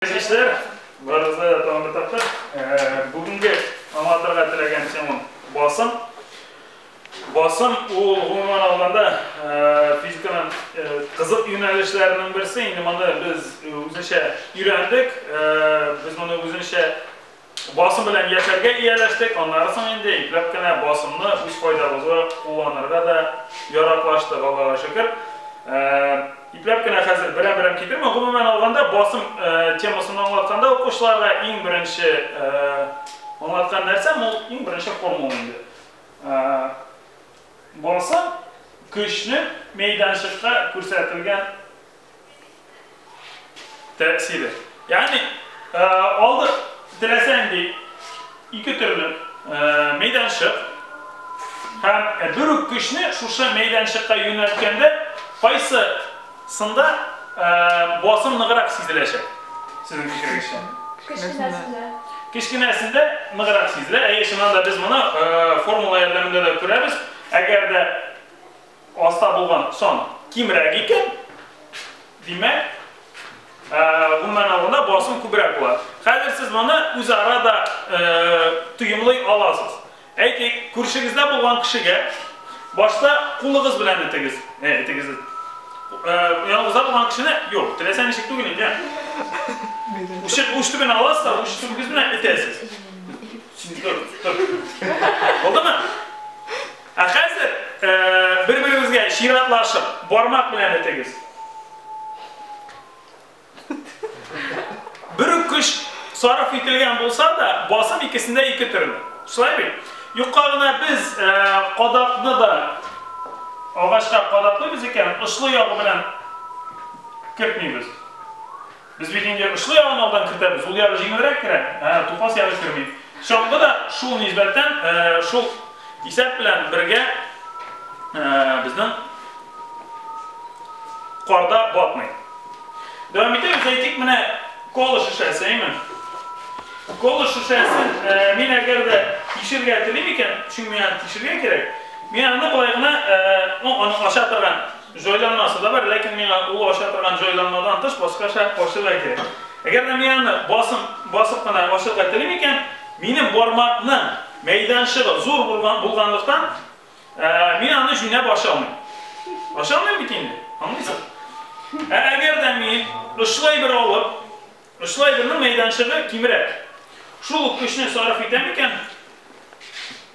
Белгечләр, барыгызга да тагын бер тапкыр бүгенге аңлатырга теләгән темам басым. Басым ул гомумән алганда физиканың кызык юнәлешләренең берсе. Инде моны без үзенчә өйрәндек. Без моны үзенчә Басым белән яшәргә ияләштек, аннары соң инде ипләп кенә басымны үз файдабызга кулланырга да яраклаштык, Аллага шөкер. Ипләп кенә хәзер берәм-берәм китермим. Гомумән алганда, басым темасын аңлатканда укучыларга иң беренче аңлаткан нәрсәм ул иң беренче формула инде. Басым көчнең мәйданчыкта күрсәтелгән тәэсире. Ягъни, э, алды теләсәң ди ике төрле э, мәйданчык һәм э, бер үк көчне шушы мәйданчыкка юнәлткәндә кайсы сында басым ныграк сизеләчәк? Сезнең фикерегезчә? Кечкенәсендә. Кечкенәсендә ныграк сизелә. Әйе, чыннан да без моны формула ярдәмендә дә күрәбез. Әгәр дә Аста булган сан кимрәк икән, димәк, гомумән алганда басым күбрәк була. Хәзер сез моны үзара да тоемлый аласыз. Әйтик, күршегездә булган кешегә башта кулыгыз белән итегез. Итегез. Яныгызда булган кешене, юк, теләсә ничек түгел инде. Ушып уш төбен аласыз да, уш төбегез белән итәсез. Булдымы? Ә хәзер бер-берегезгә чиратлашып, бармак белән этегез. Бер үк көч сарыф ителгән булса да, басым икесендә ике төрле. Шулай бит? Юкка гына без кадакны да агачка кадаклыйбыз икән, очлы ягы белән кертмибез. Без бит инде очлы ягын алдан кертәбез, ул ягы җиңелрәк керә, ә тупас ягы керми. Чаңгы да шул нисбәттән, шул исәп белән бергә безнең карда батмый. Дәвам итәбез, әйтик, менә кола шешәсе, әйме? Кола шешәсен мин әгәр дә тишергә телим икән, чөнки миңа тишергә кирәк, мин аны болай гына, ну, аны ача торган Җайланмасы да бар, ләкин миңа ул ача торган җайланмадан тыш башкача ачырга кирәк. Әгәр дә мин аны басым басып кына ачырга телим икән, минем бармакның мәйданчыгы зур булган булганлыктан, мин аны җүнәп ача алмыйм. Ача алмыйм бит инде, аңлыйсыз? Ә әгәр дә мин очлай бер алып, очлай бернең мәйданчыгы кимрәк. Шул ук көчне сарыф итәм икән.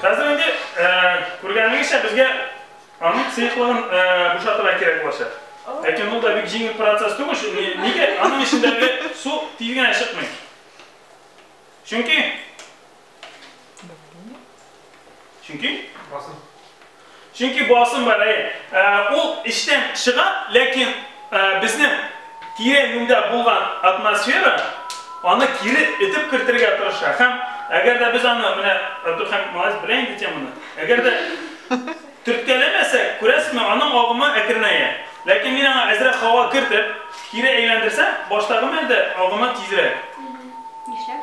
Хәзер инде күргәнегезчә безгә аның сыеклыгын бушатырга кирәк булачак. Ләкин ул да бик җиңел процесс түгел. Нигә аның эчендәге су тиз генә чыкмый? Чөнки Чөнки басым. Чөнки басым бар, әйе. Ул эчтән чыга, ләкин безнең тирә юньдә булган атмосфера аны кире этеп кертергә тырыша. Һәм әгәр дә без аны менә Абдулхамид Малайс белә инде теманы. Әгәр дә төрткәләмәсәк, күрәсезме, аның агымы әкренәя. Ләкин мин аңа әзрәк һава кертеп, кире әйләндерсәм, баштагы мәлдә агымы тизрәк. Нишләп?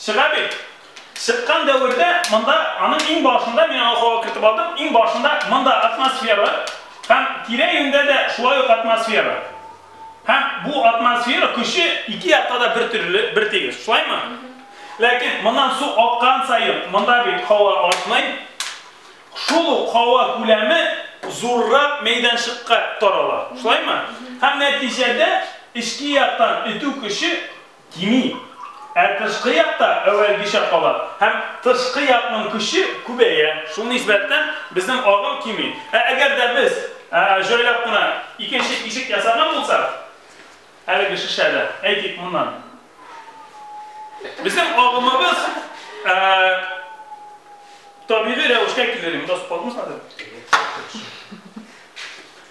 Чыга бит. Чыккан дәвердә монда, аның иң башында, мин аны һава кертеп алдым, иң башында монда атмосфера һәм тирә-юньдә дә шулай ук атмосфера. Һәм бу атмосфера көче ике якта да бер төрле, бер тигез. Шулаймы? Ләкин моннан су аккан саен, монда бит һава артмый. Шул ук һава күләме зуррак мәйданчыкка тарала. Шулаймы? Һәм нәтиҗәдә эчке яктан этү көче Кими. Ә тышкы якта әүвәлгечә кала һәм тышкы якның көче күбәя. Шул нисбәттән безнең агым кими. Ә әгәр дә без җайлап кына икенче ишек ясаган булсак, әлеге шешәдән, әйтик, моннан, безнең агымыбыз табигый рәвешкә килер иде.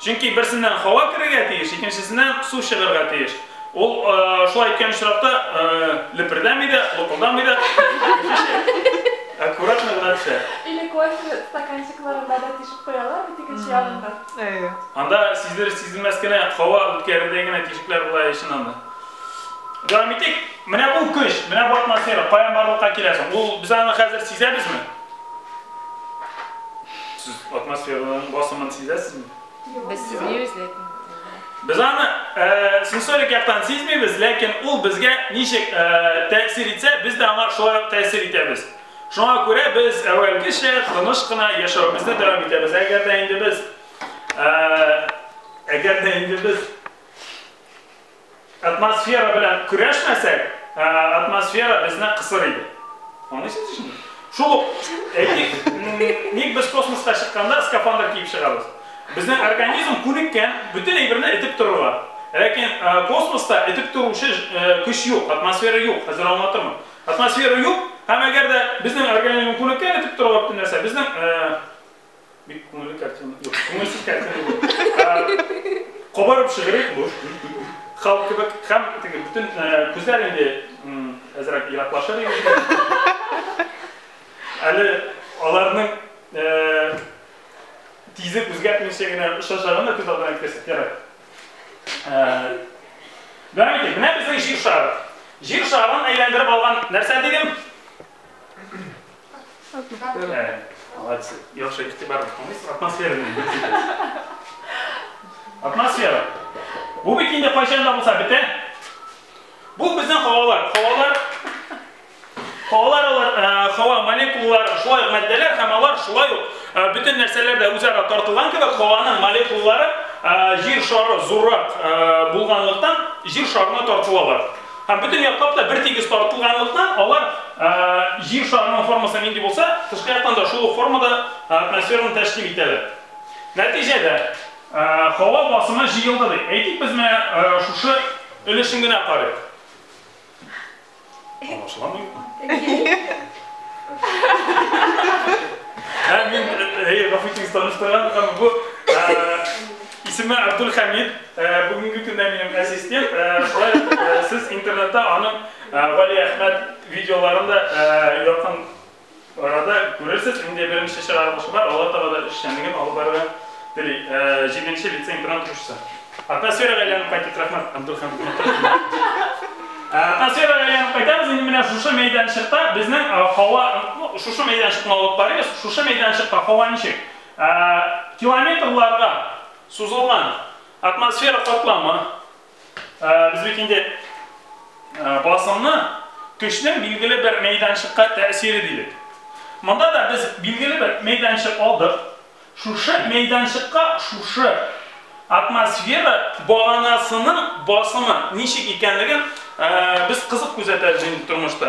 Чөнки берсеннән һава керергә тиеш, икенчесеннән су чыгарга тиеш. Ул шулай иткән очракта лепердәми дә, лыкылдамый да, аккуратно гына төшә. Или кофе стаканчикларына да тишек куялар бит икенче ягында. Әйе. Анда сизелер-сизелмәс кенә һава үткәрердәй генә тишекләр була өчен анда. Дәвам итик. Менә бу көч, менә бу атмосфера каян барлыкка килә соң? Ул без аны хәзер сизәбезме? Сез атмосфераның басымын сизәсезме? Без сизмибез, ләкин. Без аны э, сенсорик яктан сизмибез, ләкин ул безгә ничек э, тәэсир итсә, без дә аңа шулай ук тәэсир итәбез. Шуңа күрә без әүвәлгечә тыныч кына яшәвебезне дәвам итәбез. Әгәр дә инде без э, әгәр дә инде без Атмосфера белән көрәшмәсәк, атмосфера безне кысыр иде. Аңлыйсыз шуны? Шул ук, әйтик, ник без космоска чыкканда скафандр киеп чыгабыз? Безнең организм күнеккән бөтен әйберне этеп торырга. Ләкин космоста этеп торучы көч юк, атмосфера юк, хәзер аңлатырмын. Атмосфера юк, һәм әгәр дә безнең организм күнеккән этеп торырга бөтен нәрсә, безнең Бик күңелле картина. Юк, күңелсез картина булды. Кабарып шигырек бу. Халк кебек һәм теге бөтен күзләр инде әзрәк ераклашыр иде. Әле аларның тизлек үзгәртмичә генә очачагын да күз алдына китерсәк ярар. Дәвам итик. Менә безнең җир шары. Җир шарын әйләндереп алган нәрсә дидем? Атмосфера. Ә, молодцы. Яхшы игътибар итмәгез. Атмосфера белән бетегез. Атмосфера. Бу бит инде кайчан да булса бетә. Бу безнең һавалар. Һавалар Һавалар алар һава э, молекулалары шулай матдәләр һәм алар шулай ук э, бөтен нәрсәләр дә үзара тартылган кебек һаваның молекулалары э, җир шары зуррак булганлыктан җир шарына тартылалар. Һәм бөтен яклап та бертигез тартылганлыктан, алар Җир шарының формасы нинди булса, тышкы яктан да шул ук формада атмосфераны тәшкил итәләр. Нәтиҗәдә, һава басымы җыелды ди. Әйтик, без менә шушы өлешен генә карыйк. Аңлашыламы юкмы? Һәм мин, әйе, гафу итегез, таныштырган һәм бу, Исеме Абдулхәмид, бүгенге көндә минем әсистент, шулай ук сез интернетта аның Галиәхмәт видеоларын да якын арада күрерсез, инде беренче чыгарылышы бар, алга таба да эшчәнлеген алып барырга тели, җиденче лицей-интернат укучысы. Атмосферага әйләнеп кайтыйк, рәхмәт, Абдулхәмид, матур җырлар. Атмосферага әйләнеп кайтабыз, инде менә шушы мәйданчыкта безнең һава, шушы мәйданчыкны алып карыйбыз, шушы мәйданчыкта һава ничек? Километрларга сузылган атмосфера катламы без бит инде басымны көчнең билгеле бер мәйданчыкка тәэсире дидек. Монда да без билгеле бер мәйданчык алдык. Шушы мәйданчыкка шушы атмосфера баганасының басымы ничек икәнлеген без кызык күзәтәбез инде тормышта.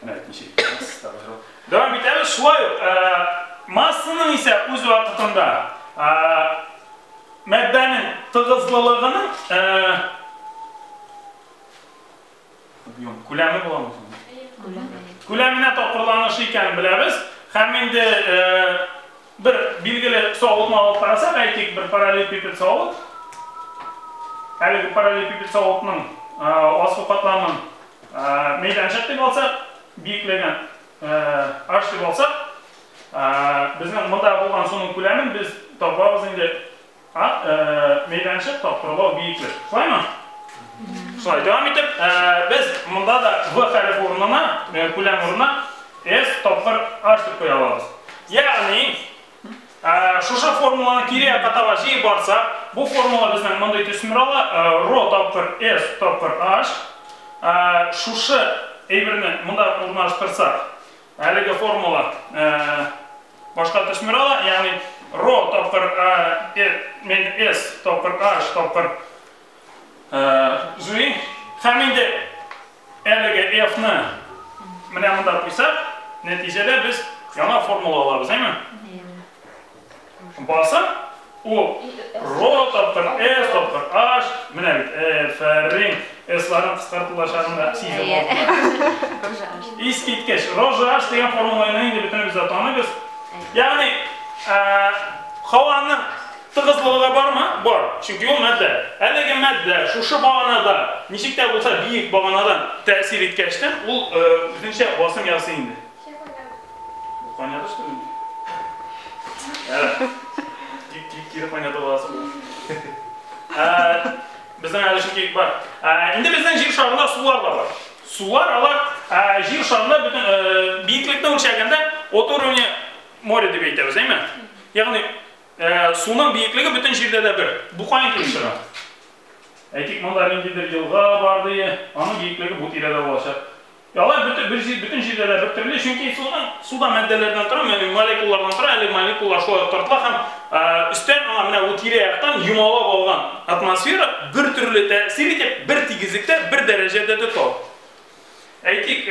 Менә бит ничек итәбез, табыжыл. Дәвам итәбез, шулай ук массаның исә үз вакытында мәддәнең тыгызлылыгының объем күләме буламы соң? Күләменә тапкырланышы икәнен беләбез. Һәм инде бер билгеле савытны алып карасак, әйтик, бер параллелепипед савыт. Әлеге параллелепипед савытның асыл катламын Мәйданчык дип алсак, биеклеген H дип алсак, безнең монда булган суның күләмен без табабыз инде мәйданчык, тапкырлау, биеклек. Шулаймы? Шулай. Дәвам итеп, без монда да V хәреф урынына, күләм урынына S тапкыр H дип куя алабыз. Ягъни, Ә, шушы формуланы кире якка таба җыеп барсак, бу формула безнең мондый төсмер ала, ә, ро тапкыр эс тапкыр аш. Ә, шушы әйберне монда урнаштырсак, әлеге формула, ә, башка төсмер ала, ягъни ро тапкыр, ә, э, мен эс тапкыр аш тапкыр Зуи, хәм инде әлеге F-ны менә монда куйсак, нәтиҗәдә без яңа формула алабыз, әйме? Баса, ул ро тапкыр F тапкыр H, менә бит F-рин S-ларын кыскартылачагында сизеп алдылар. Искиткеч, рожа H дигән формуланы инде бөтенебез дә таныйбыз. Ягъни, һаваның Тыгызлыгы да бармы? Бар, чөнки ул матдә. Әлеге матдә шушы баганада, ничек тә булса биек баганадан тәэсир иткәчтен, ул үзенчә басым ясый инде. Чәй кайнады. Бу кайнады шикелле инде. Тик тик кире кайнатып аласы булды. Безнең әле чөнки бар. Инде безнең җир шарында сулар да бар. Сулар алар җир шарында бөтен биеклекне үлчәгәндә от уровне моря дип әйтәбез, әйме? Ягъни Ә, суның биеклеге бөтен җирдә дә бер. Бу каян килеп чыга? Әйтик, монда ниндидер елга бар ди, аның биеклеге бу тирәдә булачак. Ә алай бөтен, бөтен җирдә дә бер төрле, чөнки суның, су да матдәләрдән тора, ягъни молекулалардан тора, әле молекулалар шулай ук тартыла һәм өстән аңа менә бу тирә-яктан юмалап алган атмосфера бер төрле тәэсир итеп, бер тигезлектә, бер дәрәҗәдә тота. Әйтик,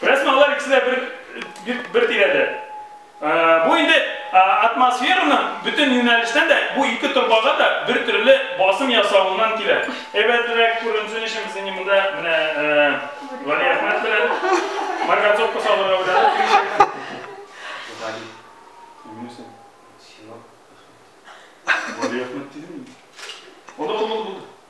Рәсмә алар икесе дә бер, бер, бер тирәдә. Ә, бу инде ә, атмосфераның бөтен юнәлештән дә бу ике торбага да бер төрле басым ясавыннан килә. Әйбәтрәк күренсен өчен без инде монда менә ә, Вали Әхмәт белән марганцовка салырга уйладык. Вали, үлмәсен. Сиңа рәхмәт. Вали Әхмәт дидем мин. Аны кулланып булды.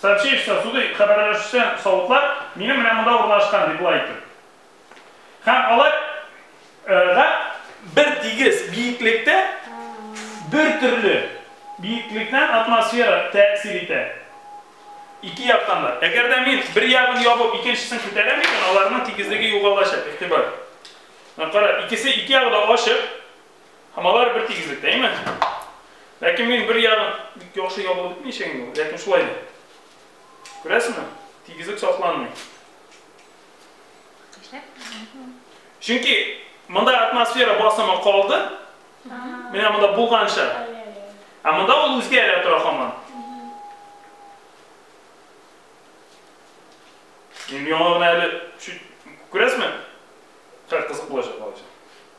Сообщество суды хәбәрләшүчән савытлар минем менә монда урнашкан, ди болай итеп. Һәм алар га бер тигез биеклектә бер төрле биеклекнән атмосфера тәэсир итә. Ике яктан да. Әгәр дә мин бер ягын ябып, икенчесен күтәрәм икән, аларның тигезлеге югалачак. Игътибар. Менә кара, икесе ике ягы да ачык. Һәм алар бер тигезлектә, әйме? Ләкин мин бер ягын бик яхшы ябылып бетмичә инде ул, ләкин шулай да. Күрәсеңме? Тигезлек сакланмый. Чөнки монда атмосфера басымы калды. Менә монда булганча. Ә монда ул үзгәрә тора һаман. Миллион әле чуть күрәсме? Хәр кызык булачак алачак.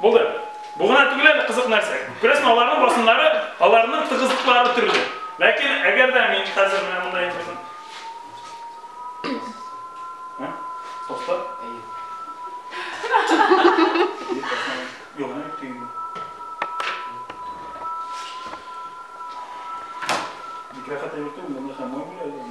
Булды. Бу гына түгел әле кызык нәрсә. Күрәсең, аларның басымнары, аларның тыгызлыклары төрле. Ләкин әгәр дә мин хәзер менә монда ятырсам. Һә? Токта. Әйе. Юк, менә бит тиңме? Бик рәхәт әйбер түгел, монда һәм мой белән.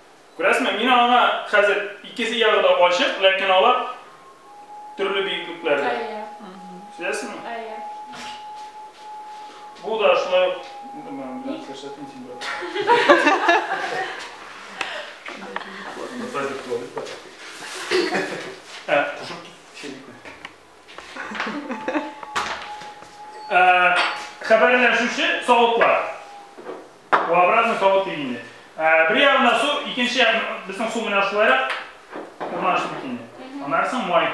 Күрәсезме, мин аңа хәзер икесе ягы да ачык, ләкин алар төрле биеклекләрдә. Әйе. Сизәсезме? Әйе. Бу да шулай ук белән күрсәтим син бер. Ә, кушып китсенме? Ә, хәбәрләшүче савытлар. Бу обратный повод бит инде. Бер ягында су, икенче як безнең су менә шулайрак урнашты бит инде. Аннары соң май.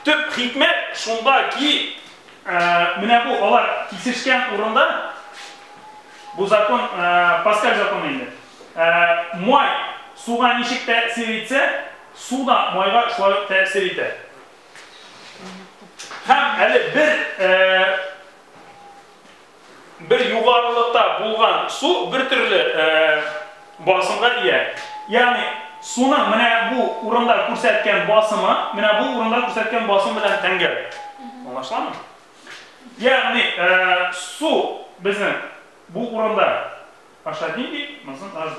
Төп хикмәт шунда ки, менә бу алар кисешкән урында, бу закон, Паскаль законы инде. Май суга ничек тәэсир итсә, су да майга шулай ук тәэсир итә. Һәм әле бер э, бер югарылыкта булган су бер төрле э, басымга ия. Ягъни суның менә бу урында күрсәткән басымы, менә бу урында күрсәткән басым белән тәңгәл. Аңлашыламы? Ягъни э, су безнең бу урында ашадин ди, монысын наш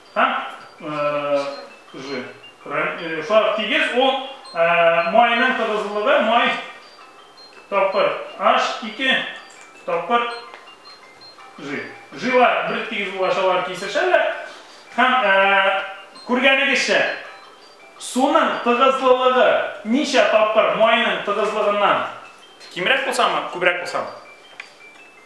Һәм же сарык тигез ул майның тыгызлыгы май тапкыр аш ике тапкыр жи. Жилар бер тигез булашалар кисешәләр. Һәм күргәнегезчә суның тыгызлылыгы ничә тапкыр майның тыгызлыгыннан кимрәк булсамы, күбрәк булсамы?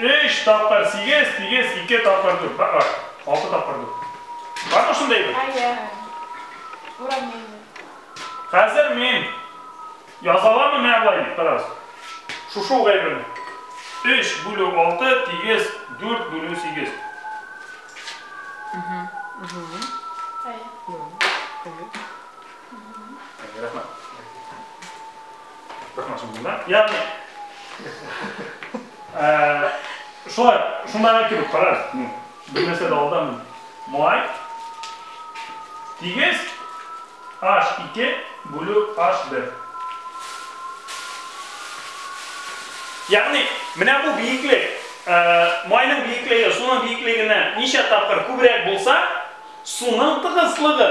Өч тапкыр сигез, сигез, ике тапкыр дүрт. Бар, бар. Алты тапкыр дүрт. Бар мы шундай бер? Әйе. Уравнение. Хәзер мин язаламы менә болай дип, карагыз. Шушы угай белән. Өч бүлү алты, тигез, дүрт бүлү сигез. Әйе. Рәхмәт. Токмасын монда. Ягъни э, шулай, шундагы кебек карар. Ну, бер нәрсә дә алдан май тигез H2 бүлү H1. Ягъни, менә бу биеклек, э, майның биеклеге, суның биеклегеннән ничә тапкыр күбрәк булса, суның тыгызлыгы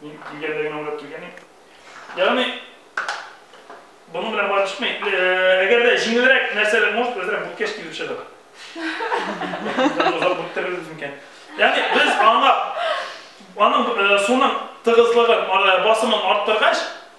Мин килгәндәгенә уйлап килгән идем. Ягъни, буның белән барышмый. Әгәр дә җиңелрәк нәрсәләр, может, үзләр бүткәч килеп чыгар. Озак бүктерербез микән? Ягъни, без аңа, аның суның тыгызлыгын, басымын арттыргач,